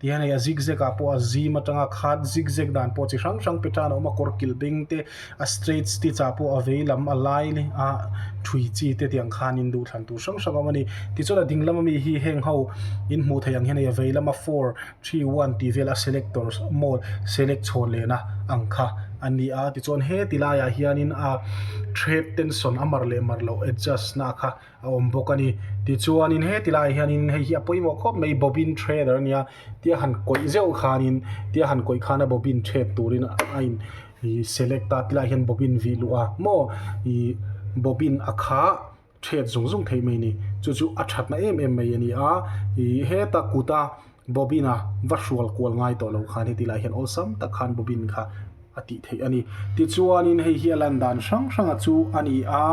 Tia nei a zigzag ah pawh a zim atang a, khat zigzag dan pawh chi hrang hrang petan a awm a, kawr kilh beng te, a straight stitch ah pawh a vei lam a lai a thui chi te tiang khan in duh thlan tur hrang hrang a awm a ni. Tichuan a ding lam ami hi heng ho in hmuh theih ang hian hei a vei lam a four three one tih vel a select tawr maw select chhawn len a ang kha a ni a, tichuan heti lai ah hian in a thread tension a mar leh mar loh adjust na a kha a awm bawk a ni. Tichuanin heti laiah hianin hei hi a pawimawh khawp mai bobine threader a nia tia han kawih zeuh khanin tia han kawih khana bobine thread turin a in ih select a ti laiah hian bobine vih luh a maw ih bobine a kha thread zung zung theih mai a ni chu chu a thatna em em mai a ni a ih heta kuta-- Bobin a va hrual kual ngai tawh lo khan heti lah hian awlsam tak khan Bobin kha a tih theih a ni. Tichuanin hei hi a lan dan hrang hranga chu a ni a,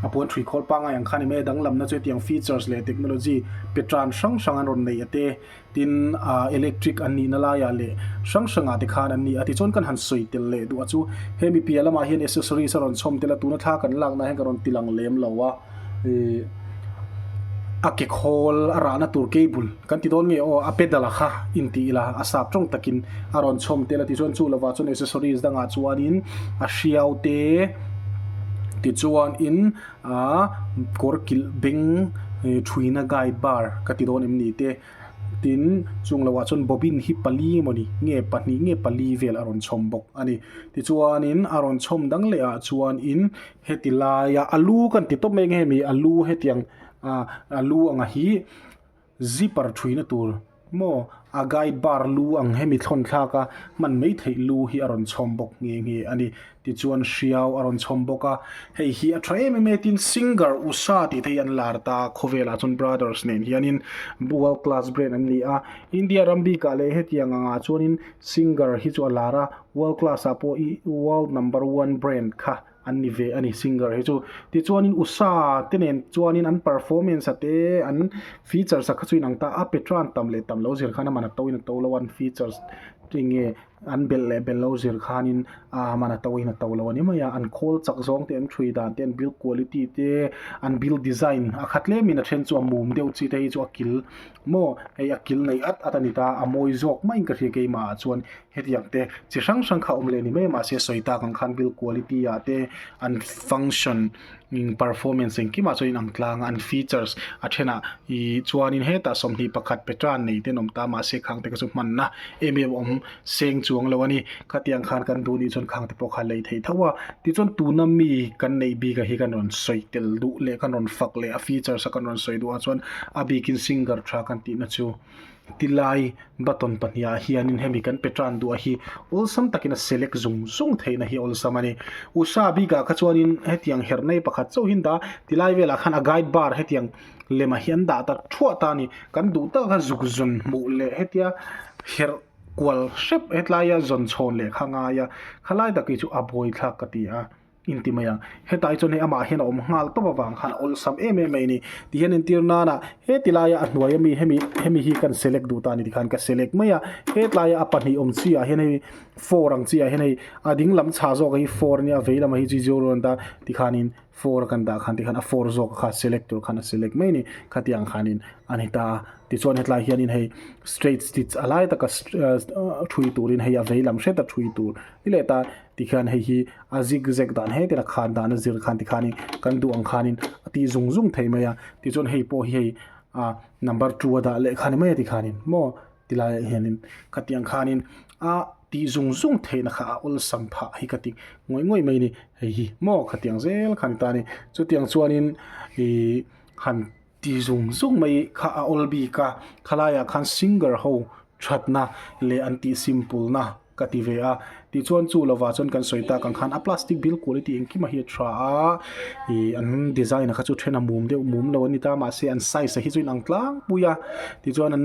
a puan ṭhi khawl pangai ang khan em e, danglamna chu hetiang features leh technology pe ṭan hrang hrang an rawn nei a te, tin, ah, electric an nihna laia leh hrang hrangah te khan an ni a. Tichuan kan han sawi tel leh duh a chu, he mi pialamah hian accessories a rawn chhawm tel a, tuna thla kan laknaah hian kan rawn tilang lem lo a. A ke khawl a rahna tur kei bul kan ti dawn nge aw a pedal a kha in ti ila a sap tawng takin a rawn chhawm tel a ti chuan chu lova chuan accessories dang ah chuanin a hriau te ti chuan in aa kawr kilh beng thuina gai bar ka ti dawn em ni te tin chung lo ah chuan bobin hi pali emaw ni nge pahnih nge pali vel a rawn chhawm bawk a ni tichuanin a rawn chhawm dang leh ah chuan in-- Heti laia a lu kan ti tawp mai nge mi a lu hetiang a lu anga hi zipper thuina tur maw a guide bar lu ang hemi thawnthlaka hman mai theih lu hi a rawn chhawm bawk nge nge a ni tichuan hriau a rawn chhawm bawk a hei hi a tha em em e tin singer usha tih te hi an lar ta khawvelah chuan brothers nen hianin world class brand an ni a India ram bikah leh hetiang angah chuanin singer hi chu a lar a. World class ah pawh i world number one brand kha an ni ve a ni singer hi chu. Tichuanin usha te nen chuanin an performance a te an features a kha chu inang ta a, Petra an tam leh tam lo zir khan a man a to in a to lo a, an features eng nge an belh leh belh lo zir khanin a man a to in a to lo a ni mai a, an khawl chak zawng te, an thui dan te, an build quality te, an build design a kha tlemin a then chu a mum deuh chi te hi chu a kil maw hei a kil nei at at a ni ta, a mawi zawk maiin ka hria keimah ah chuan Hetiang te chi hrang hrang kha awm leh ni mai mahse sawi tak ang khan build quality ah te an function imm performance engkim ah chuan in ang tlang a an features a thenah ih chuan in hetah sawmhnih pakhat petra nei ten awm ta mahse khang te ka chu hman na em em awm seng chuang lo a ni khatiang khan kan duh ni chuan khang te pawh kha lei thei tho a tichuan tuna mi kan neih bik a hi kan rawn sawi tel duh leh kan rawn fak leh a features a kan rawn sawi duh ah chuan a bikin singer tha kan tih na chu Ti lai button pahniha hianin hemi kan pe tan duh a hi awlsam takin a select zung zung theihna hi awlsam a ni. Usa bik ah kha chuanin hetiang her nei pakhat chauh hi an dah a, ti lai vel ah khan a guide bar hetiang lem ah hi an dah ta thuah ta a ni. Kan duh tak kha zuk zun hmuh leh hetia her kual hrep hetlaia zawn chhawn leh kha ngai a, khalai takih chu a bawithlak ka ti a. inti mai a, hetlai chuan hei amah hian a awm nghal tawp avang khan a awlsam em em mai a ni tih hian entir nan a heti laia a hnuaia mi hemi hemi hi kan select duh ta a ni tikhan ka select mai a hetlaia a pahnih awm chiahah hian hei four ang chiahah hian hei a ding lam chhah zawk hi four a nia a vei lamah hi chu zero a rawn dah a tikhanin four a kan dah khan tikhan a four zawk kha select tur khan a select mai a ni khatiang khanin a ni ta a tichuan hetlai hianin hei straight stich a lai taka a thui turin hei a vei lam hreta thui tur ni leh ta. tikhian hei hi a zig zag dan hle tera khan dan a zir khan tikhanin kan duh ang khanin a ti zung zung thei mai a tichuan hei pawh hi hei a number two a dah leh khan mai a tikhanin maw ti laiah hianin ka tih ang khanin a tih zung zung theihna kha a awlsam phah hi ka ti ngawih ngawih mai a ni hei hi maw ka tih ang zel khan a ni ta a ni chutiang chuanin ihh han-- Ti zung zung mai kha a awl bik a, khalaiah khan singer ho thatna leh an tih simpulna ka ti ve a. Tichuan chu lovah chuan kan sawi tak ang khan a plastic bil quality engkim a hi a tha a, ih an design a kha chu then a mum deuh mum lo a ni ta, mahse an size a hi chu a inang tlangpui a. Tichuan an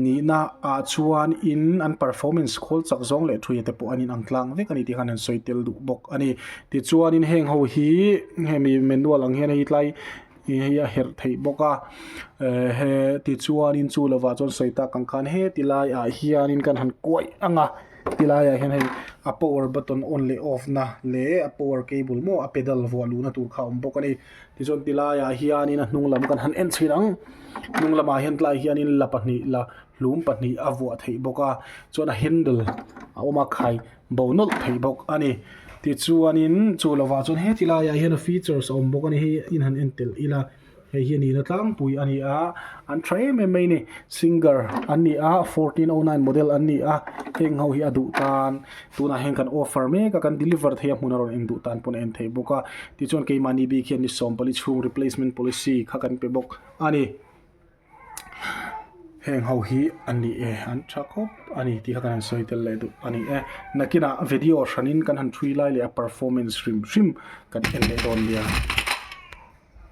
nihna ah chuan in an performance khawl chak zawng leh thuia te pawh an inang tlang vek a ni tih khan an sawi tel duh bawk a ni. Tichuanin heng ho hi hemi manual ang hian hei tlai-- He hi a herh theih bawk a eh he tichuanin chu lovah chuan sawi ta kan khan he ti laiah hianin kan han kuaih ang a ti laiah hian hei a power button on leh off na leh a power cable maw a pedal vuah luhna tur kha a awm bawk a ni tichuan ti laiah hianin a hnung lam kan han en chhin ang hnung lamah hian tlaiah hianin la pahnih la hlum pahnih a vuah theih bawk a chuan a handle a awm a khai-- bo nawlh thei bawk a ni. Tichuanin chu lo vah chuan heti laiah hian features a awm bawk a ni. Hei in han en telh ila hei hi a nihna tlangpui a ni a. An tha em em mai a ni. Singer an ni a, fourteen oh nine model an ni a. Heng ho hi a duh tan. Tunah hian kan offer mek a, kan deliver theih a hmun a rawn en duh tan pawh a en thei bawk a. Tichuan keimahni bik hian ni sawmpali chhung replacement policy kha kan pe bawk a ni. heng ho hi an ni e an tha khawp a ni tih kha kan han sawi tel leh duh a ni e nakinah video hranin kan han hrui lai leh a performance hrim hrim kan en leh dawn nia.